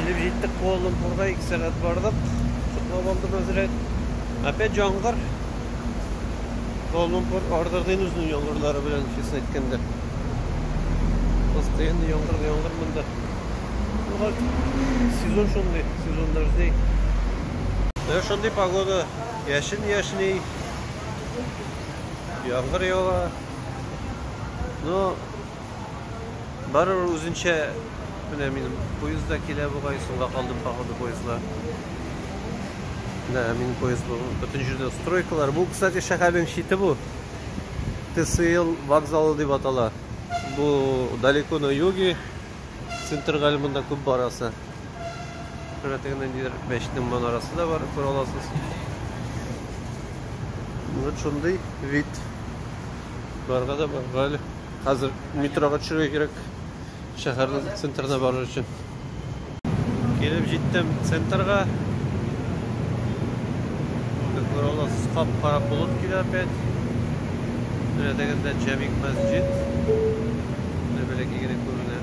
Килеп җиттек Куала-Лумпурга, ике сәгать бардык. Котлап алдым әзрәк. Опять яңгыр. Куала-Лумпур ардырдыйн үзенең яңгырлары белән, честно әйткәндә. Постоянно яңгыр, яңгыр монда. Була сезон шундый, сезон дождей. Менә шундый погода. Яшен яшни. Яңгыр ява. Но Барыр үзенчә, менә минем поезд да килә бугай, соңга калдым походу поездга. Да, минем поезд бу. Бөтен җирдә стройкалар. Бу, кстати, шәһәрнең чите бу. ТСЛ вокзалы дип атала. Бу далеко на юге. Центрга әле монда күп барасы. Шура тегендә нидер мәчетнең манарасы да бар, күрә аласыз. Вот шундый вид. Барга да барга әле. Хәзер метрога төшергә кирәк. Шәһәрнең центрына барыр өчен. Килеп җиттем центрга. Как вы видите, скап карап булып килә опять. Менә дигәндә Җәмик мәсҗид. Менә бәләкәй генә күренә.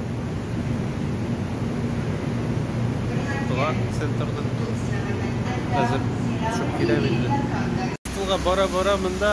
Туган центрның хәзер чүп килә инде. Тулга бара-бара монда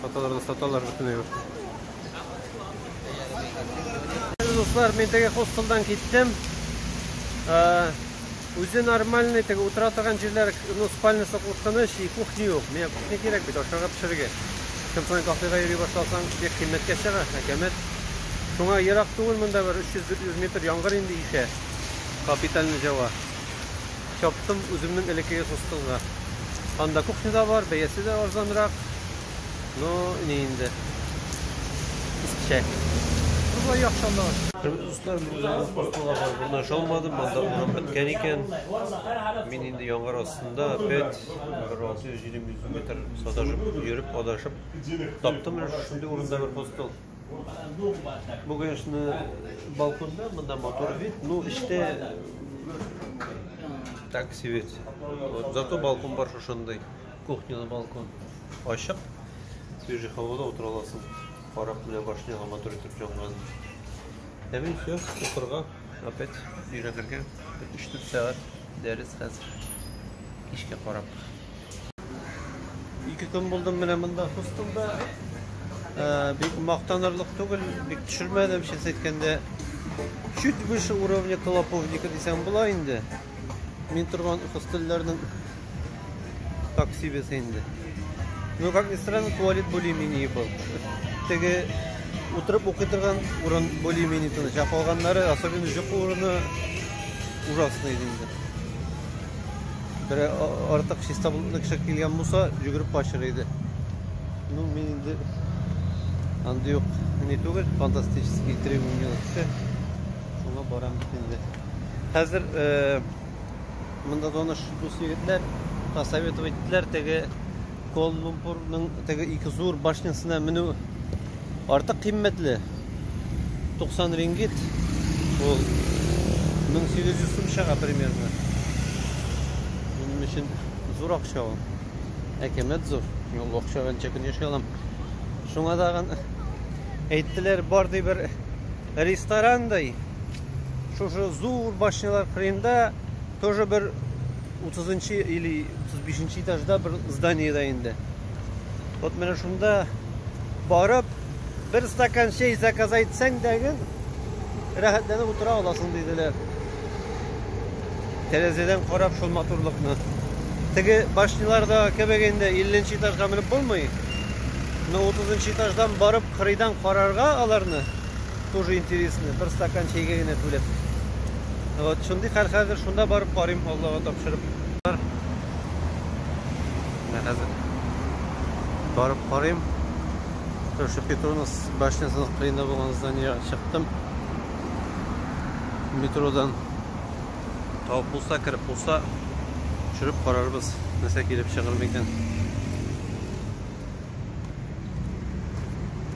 Саталар да саталар бөтенләй уже. Дуслар, мин теге хостелдан киттем. Э, үзе нормальный, теге утыра торган җирләр, ну, спальнясы куркыныч, и кухня юк. Миңа кухня кирәк бит, ашарга пешерергә. Кем саен кафега йөри башласаң, бик кыйммәткә чыга, әкәмәт. Шуңа ерак түгел монда бер 300-400 метр яңгыр инде ишә. Капитальный җава. Чаптым үземнең элеккеге хостелга. Анда кухня да бар, бәясе дә арзанрак. Но ни инде. Искечә. Шулай яхшы анда. Хөрмәтле дуслар, мин үземнең хостелга барып урнаша алмадым, анда урын беткән икән. Мин инде яңгыр астында опять бер 600-700 метр саташып йөреп, адашып таптым менә шундый урында бер хостел. Бу, конечно, балконда, монда мотор вид, но эчтә так себе. Вот, зато балкон бар шушындай. Кухняда балкон. Ачык. Свежий һавада утыра аласың. Карап менә башняга мотор итеп җанган. Ә мин все, укырга, опять өйрәнергә. 3-4 сәгать дәрес хәзер. Кичкә карап. Ике көн булдым менә монда хостелда. Э, бик мактанырлык түгел, бик төшермәдем, честно әйткәндә. Чуть выше уровня колоповника дисәң була инде. Мин торган хостелләрнең такси бесы инде. Ну, как ни странно, туалет более-менее был. Теге утырып укый торган урын более-менее тыныч. Ә калганнары, особенно җокы урыны ужасный инде. берәр артык чиста болытлы кеше килгән булса, йөгереп качыр иде. Ну, мин инде андый ук не түгел, фантастический требования кеше. Шуңа барам бит инде. Хәзер э, монда таныш дус егетләр посоветовать иттеләр, теге Куала-Лумпурның теге ике зур башнясына менү артык кыйммәтле. 90 рингит. Ул 1800 сум чыга примерно. Минем өчен зур акча ул. Әкәмәт зур. Мин ул акчага ничә көн яши алам. Шуңа тагын әйттеләр, бар ди бер ресторандай. Шушы зур башнялар кырыенда Тоже бер 30-нчы или 35-нчы этажда бер зданиедә инде. Вот менә шунда барып, бер стакан чәй заказ итсәң дә гел рәхәтләнеп утыра аласың диделәр. Тәрәзәдән карап шул матурлыкны. Теге башняларда кебек инде 50-нче этажга менеп булмый. Но 30-нчы этаждан барып кырыйдан карарга аларны тоже интересный бер стакан чәйгә генә түләп вот шундый хәл хәзер шунда барып карыйм аллага тапшырып менә хәзер барып карыйм ошо петронус башнясының кырыйында булган зданиега чыктым метродан табып булса кереп булса төшереп карарбыз нәрсә килеп чыгыр микән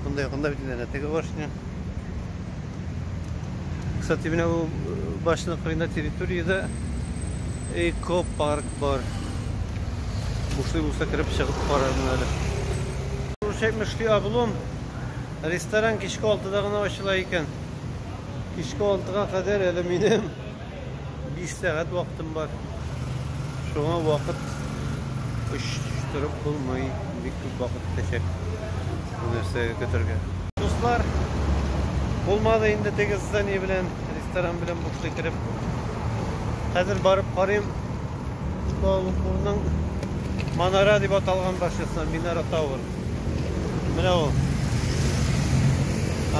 Бунда якында бит инде теге башня. Кстати, менә бу башня кырында территориядә экопарк бар. Бушлый булса кереп чыгып карармын әле. Получаемый шли облом. Ресторан кичке 6-да гына ачыла икән. Кичке 6-га кадәр әле минем 5 сәгать вакытым бар. Шуңа вакыт очтырып булмый. Бик күп вакыт китәчәк. Бу нәрсәгә көтергә. Дуслар, булмады инде теге здание белән, ресторан белән бушты кереп. Хәзер барып карыйм. Куалупурның Манара дип аталган барчасына Минара Тауэр. Менә ул.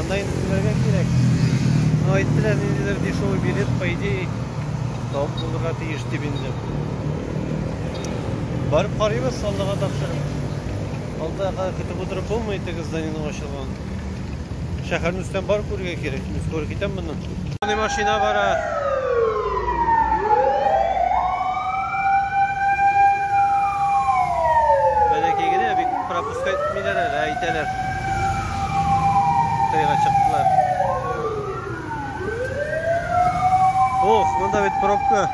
Анда инде түләргә кирәк. Ну, әйттеләр, ниндидер дешевый билет, по идее, табып булырга тиеш дип инде. Барып карыйбыз, Аллага тапшырып. Алда кадәр көтеп утырып булмый, теге зданиенең ачылуын. Шәһәрне өстән бар күрергә кирәк. Мин скоро китәм моннан. Мондый машина бара. Бәләкәй генә бик пропуска итмиләр әле, әйтәләр. Тыйга чыктылар. Ох, монда бит пробка.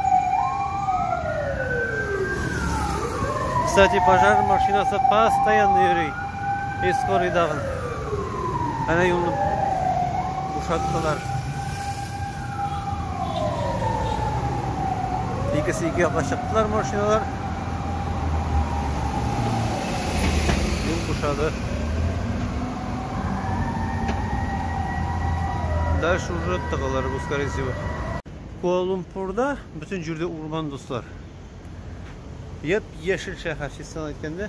Кстати, пожар машинасы постоянно йөри. Эскоридагы. Әнә юлны бушаттылар. Икесе ике якка чыктылар машиналар. Юл бушады. Дальше уже тыгылар бу, скорее всего. Куала-Лумпурда бөтен җирдә урман, дуслар. Яп-яшел шәһәр, чистан әйткәндә.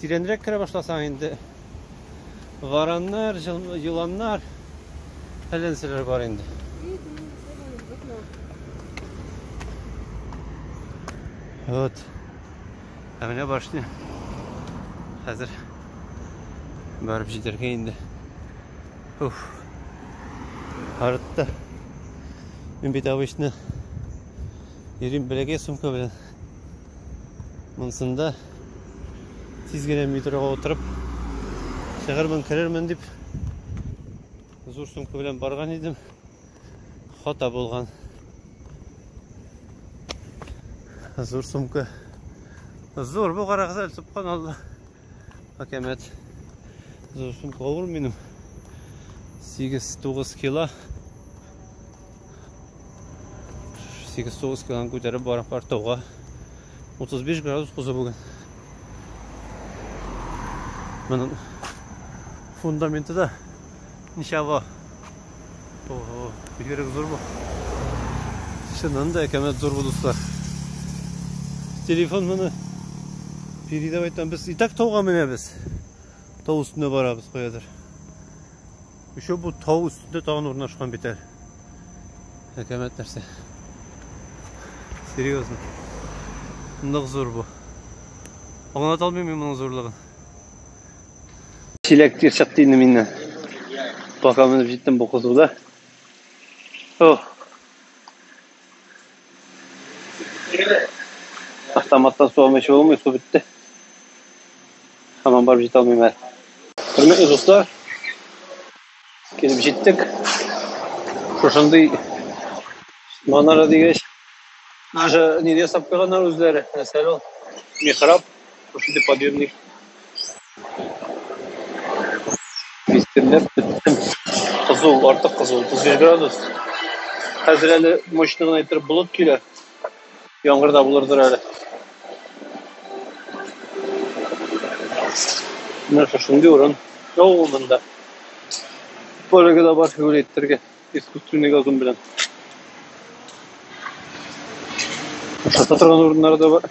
Тирәнрәк керә башласаң инде вараннар, еланнар, фәләнселәр бар инде. Вот. Ә менә башня. Хәзер барып җитәргә инде. Уф. Артта. Мин бит обычно йөрим бәләкәй сумка белән. Монсында тиз генә метроға утырып чыгырмын, керермен дип зур сумка белән барган идем. Хата булган. Зур сумка. Зур бу карагыз әле, субханалла. Әкәмәт. Зур сумка авыр минем. 8-9 кило. 8-9 килоны күтәреп бара партауга. 35 градус кузы бүген. Моның фундаменты да ничава. Ого, бигерек зур бу. Чыннан да әкәмәт зур бу, дуслар. Телефон моны передап айтам. Без и так тауга менәбез. Тау өстенә барабыз каядыр. Еще бу тау өстендә тагын урнашкан бит әле. Әкәмәт нәрсә. Серьезно. Нык зур бу. Аңлата алмыйм мин моның зурлыгын. Чиләк тир чыкты инде миннән. Бака менеп җиттем бу кызуда. О. Автоматтан су алмый чыгылмый, су бетте. Һаман барып җитә алмыйм әле. Хөрмәтле дуслар, килеп җиттек. Шушындый манара дигәч, даже нигә ясап куйганнар үзләре. Нәрсә ул? Михраб. Шундый подъемник. Мистерләп беттем. Кызу, артык кызу, 35 градус. Хәзер әле мощный гына иттереп болыт килә. Яңгыр да булырдыр әле. Менә шушындый урын. Яу монда. Бөлеге дә бар, юл иттерге. Искусственный газон белән. Шата торган урыннары да бар.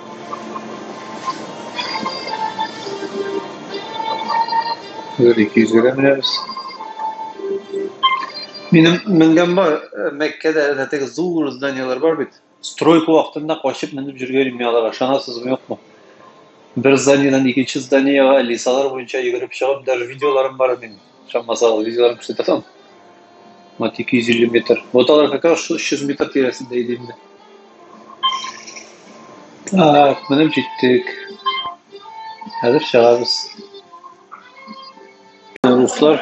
Хәзер 200-гә менәбез. Минем менгән бар, э, Мәккәдә әнә теге зур зданиелар бар бит. Стройка вакытында качып менеп йөргән идем аларга, ышанасызмы, юкмы? Бер зданиедән икенче зданиегә лисалар буенча йөгереп чыгып, даже видеоларым бар минем. Сейчас Масал видеоларын күрсәтәсең. Вот 250 метр. Вот алар как раз 300 метр тирәсендә иде инде. Так, менеп җиттек. Хәзер чыгабыз. Руслар,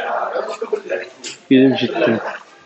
килеп җиттем.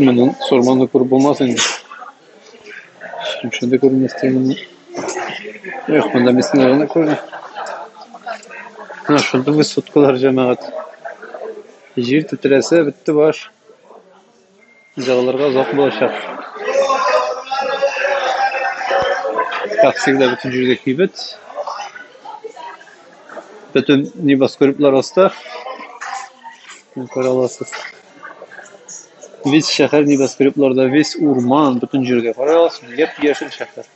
Менә сорманы күреп булмас инде. Шушы да күрмәс тигәнне. Эх, монда мисне гына күрә. Менә шунда без суткалар җәмәгать. Җир тетрәсә, бетте баш. Җылыларга озак булачак. Как всегда, бөтен җирдә кибет. Бөтен небоскреблар аста. Күрә аласыз. Весь шәһәр небоскребларда, весь урман, бөтен җирдә. Карый аласыз, яп-яшел шәһәр.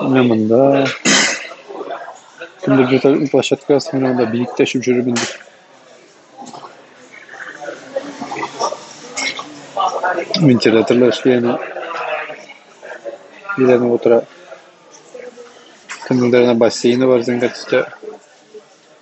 Менә монда. Кемдер где-то площадка астында монда биек тәшеп жүрер инде. Вентиляторлар эшли аны. Биләнеп утыра. Кемнеңдер ана бассейны бар зәңгәр төстә.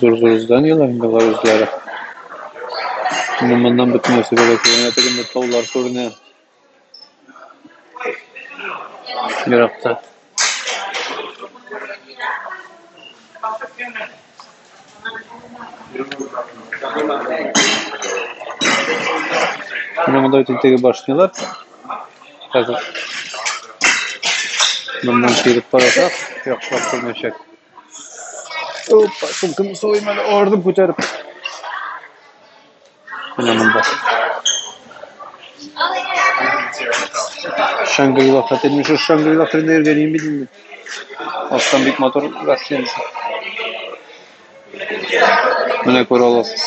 Зур зур зданиеләр инде алар үзләре. Менә моннан бөтен нәрсә дә күренә, тегендә таулар күренә. Еракта. Менә монда бит инде теге башнялар. Хәзер моннан килеп карасак, яхшылап күрмәчәк. Опа, сумкамны салыйм әле, ардым күтәреп. Менә монда. Шангрила хәтер, мин шул Шангрила хәтерендә йөргәнем бит инде. Астан бик матур гостиница. Менә күрә аласыз.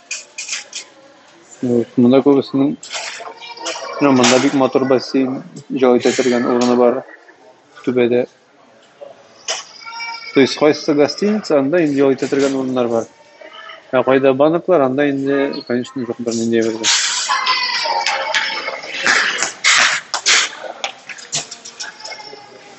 Вот, монда күбесенең ну, монда бик матур бассейн җай итә торган урыны бар түбәдә. То есть кайсы гостиница, анда инде җай итә торган урыннар бар. Ә кайда банклар, анда инде, конечно, юк бернинди бер.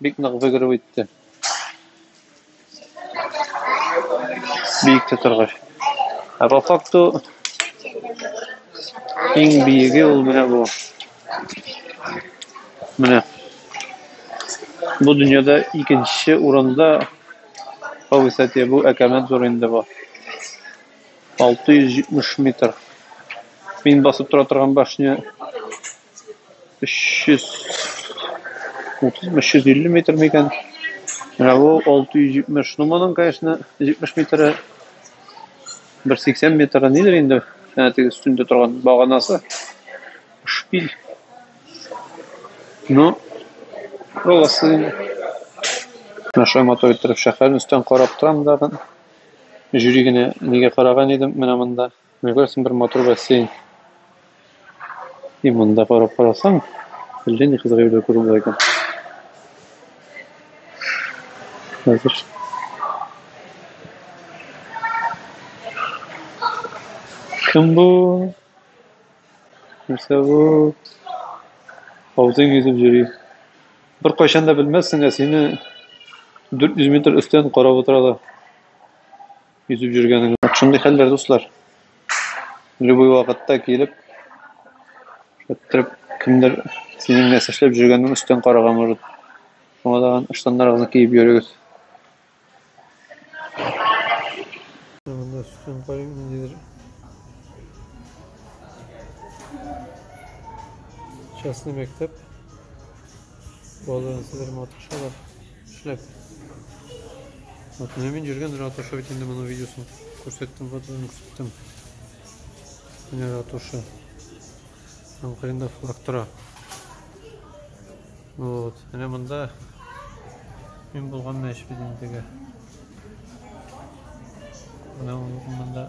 бик нык бөгереп үтте. Биектә торгач. Ә по факту иң биеге ул менә бу. Менә. Бу дөньяда икенче урында по высоте бу әкәмәт зур инде бу. 670 метр. Мин басып тора торган башня 330-350 метр микән? Менә бу 670. Ну, моның, конечно, 70 метры 180 метры нидер инде, әнә теге өстендә торган баганасы. Шпиль. Ну, роласы. Наша мотор торып шәһәрен өстән карап торам да. Җүри генә нигә караган идем менә монда. Менә күрәсең, бер матур бассейн. И монда карап карасаң, әллә ни кызык әйбер күреп була икән. Хәзер Кем бу? Нәрсә бу? Хавзын йөзеп йөри. Бер кайчан да белмәссең, ә сине 400 метр өстән карап утыралар. йөзеп йөргәнең. Вот шундый хәлләр, дуслар. Любой вакытта килеп, шәттереп, кемдер синең нәрсә эшләп йөргәнен өстән карарга может. Шуңа да штаннарыгызны киеп йөрегез. Монда сүтен карыйм ниндидер. Частный мәктәп. Балын сидер матышалар. Эшләп. Атны мин җиргән ратуша бит инде моның видеосын күрсәттем, фотосын күрсәттем. Менә ратуша. Һәм кырында флаг тора. Вот. Менә монда мин булган мәш бит инде. Менә монда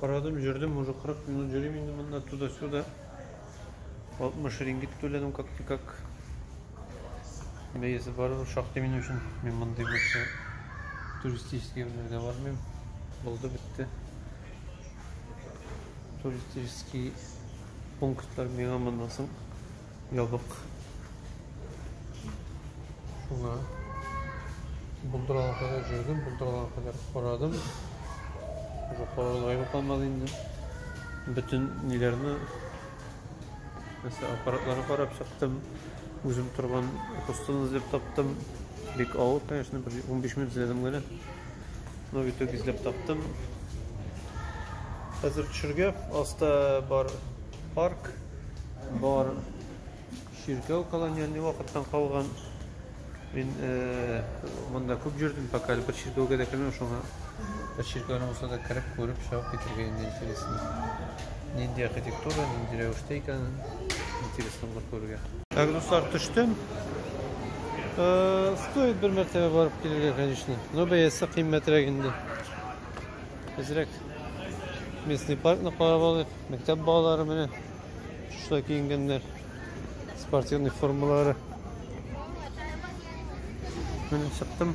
Карадым, җөрдем, уже 40 минут җөрим инде монда, туда-сюда. 60 рингит түләдем как-никак. Бәясе барыбер шактый минем өчен. Мин мондый булса туристический ерләргә бармыйм. Булды бетте. Туристический пунктлар миңа моннан соң Ябык. Шуңа булдыралар кадәр җөрдем, булдыралар кадәр карадым. Уже карарга ябык алмады инде. Бөтен ниләрне, мәсә аппаратларны карап чыктым. Үзем торган костыны эзләп таптым. Бик авыр, конечно, 15 минут эзләдем генә. Но в итоге эзләп таптым. Хәзер төшергә аста бар парк бар. Чиркәү колония не вакыттан калган. Мин э, монда күп җөрдем, пока әле бер чиркәүгә дә кермәм шуңа. Бер чиркәүне булса да кереп, күреп, чыгып китергә инде интересно. Нинди архитектура, нинди рәвештә икәнен интересно булыр күрергә. Так, дуслар, төштем. Э, стоит бер мәртәбә барып килергә, конечно. Но бәясе кыйммәтрәк инде. Безрәк местный паркны карап алыйк. Мәктәп балалары менә шулай киенгәннәр. Спортивный формалары. Менә чыктым.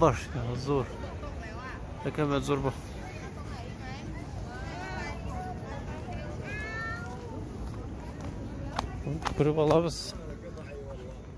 Баш зур. Әкәмәт зур бу. Күреп алабыз.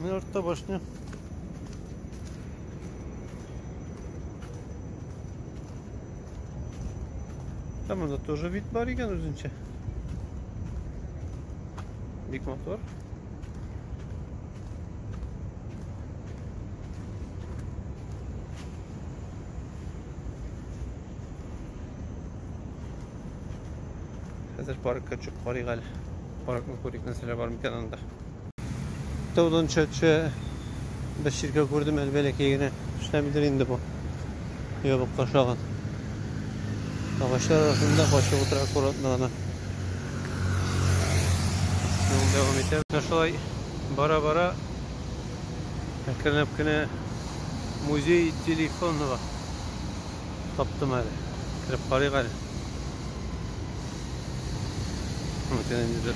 Ну и артта башня. Там это тоже вид бариган үзенчә. Бик мотор. Хәзер паркка чыгып карыйк әле. Паркны күрик, нәрсәләр бар микән анда. Таудан төшә-төшә бер чиркәү күрдем әле бәләкәй генә. Эшләмидер инде бу. Ябыкка ошаган. Агачлар арасында качып утыра аккуратно гына. Юл дәвам итә. Шулай бара-бара әкренләп кенә музей телефонного таптым әле. Кереп карыйк әле. Мөмкин инде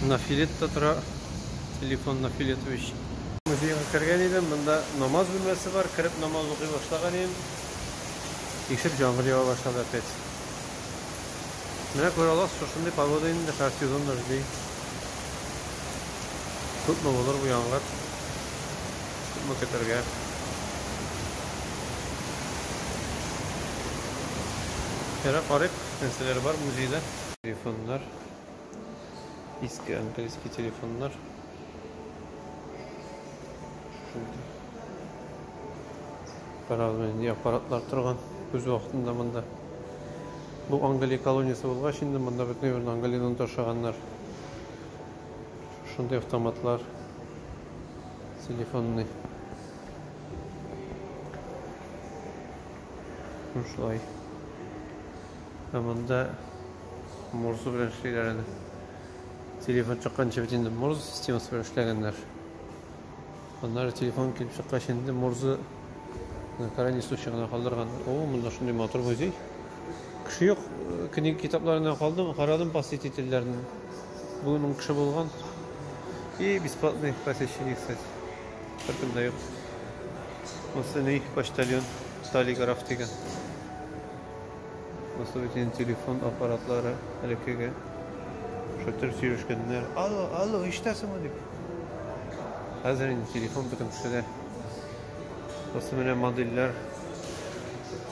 на филетта тора. Телефон на филетович. Музейга кергән идем, монда намаз бүлмәсе бар, кереп намаз укый башлаган идем. Ишек җаңгыр ява башлады опять. Менә күрә аласыз, шушындый погода инде һәр сезон дожди. Күпме булыр бу яңгыр? Күпме көтәргә? Ярар, карыйк, нәрсәләр бар музейда. Телефоннар. Иске английский телефоннар. Шундый. Карагыз, нинди аппаратлар торган. Үз вакытында монда. Бу Англия колониясе булгач инде монда бөтен Англияннан ташаганнар. Шундый автоматлар телефонный. Ну шулай. Ә монда морзу белән эшлиләр әле. Телефон чыкканчы бит инде морзу системасы белән эшләгәннәр. Аннары телефон килеп чыккач инде Морзы на крайний случай гына калдырган. О, монда шундый матур музей. Кеше юк. Книга китапларына калдым, карадым посетительләрне. Бүген ун кеше булган. И бесплатный посещение, кстати. Беркем дә юк. Монсы ни почтальон Талиграф дигән. Воспалительный телефон аппаратлары элеккеге шатыр сөйләшкәннәр. Алло, алло, ишетәсеңме дип. Хәзер инде телефон бөтен кешедә. Просто менә модельләр.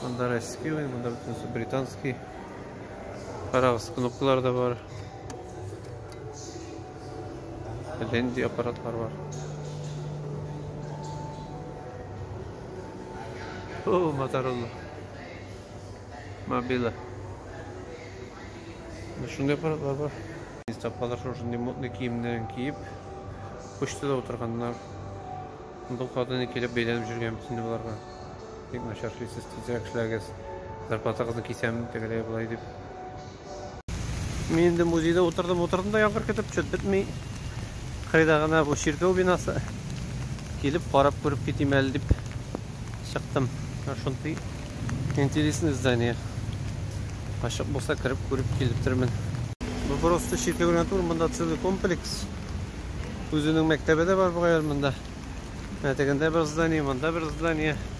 Монда российский, монда бөтенесе британский. Карагыз, кнопкалар да бар. Ленди аппаратлар бар. О, Моторолла. Мобила. Менә шундый аппаратлар бар. Без тапалар шушындый модный киемнәрен киеп, почтада утырганнар. Бу каданы килеп бәйләнеп жүргән бит инде боларга. Бик начар эшлисез, тизрәк эшләгез. Зарплатагызны кисәм, тегеләй болай дип. Мин инде музейда утырдым, утырдым да яңгыр көтеп чөт бетми. Кыйда гына бу чиркәү бинасы. Килеп карап күреп китим әле дип чыктым. Шундый интересный здание. Ачык булса кереп күреп килептермен. Бу просто чиркәү генә түгел, монда целый комплекс. Үзенең мәктәбе дә бар бугай монда. Мәтәгендә бер здание, монда бер здание.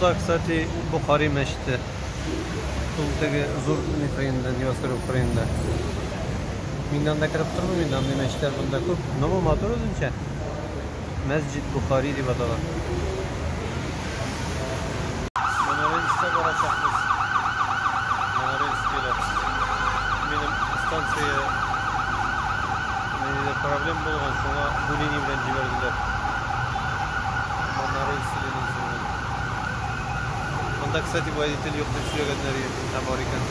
Да, кстати, Бухари мәчете. Ул теге зур Украинада, Невоскор Украинада. Мин анда кереп тормыйм инде, андый мәчетләр монда күп. Но бу матур үзенчә. Мәсҗид Бухари дип атала. Монорельска барачакбыз. Монорельскийлар. Минем станция проблем булган, шуңа бу линия белән җибәрделәр. Моннары исеменнән сулган. Монда, кстати, водитель юк дип сөйләгәннәр иде. Ә бар икән.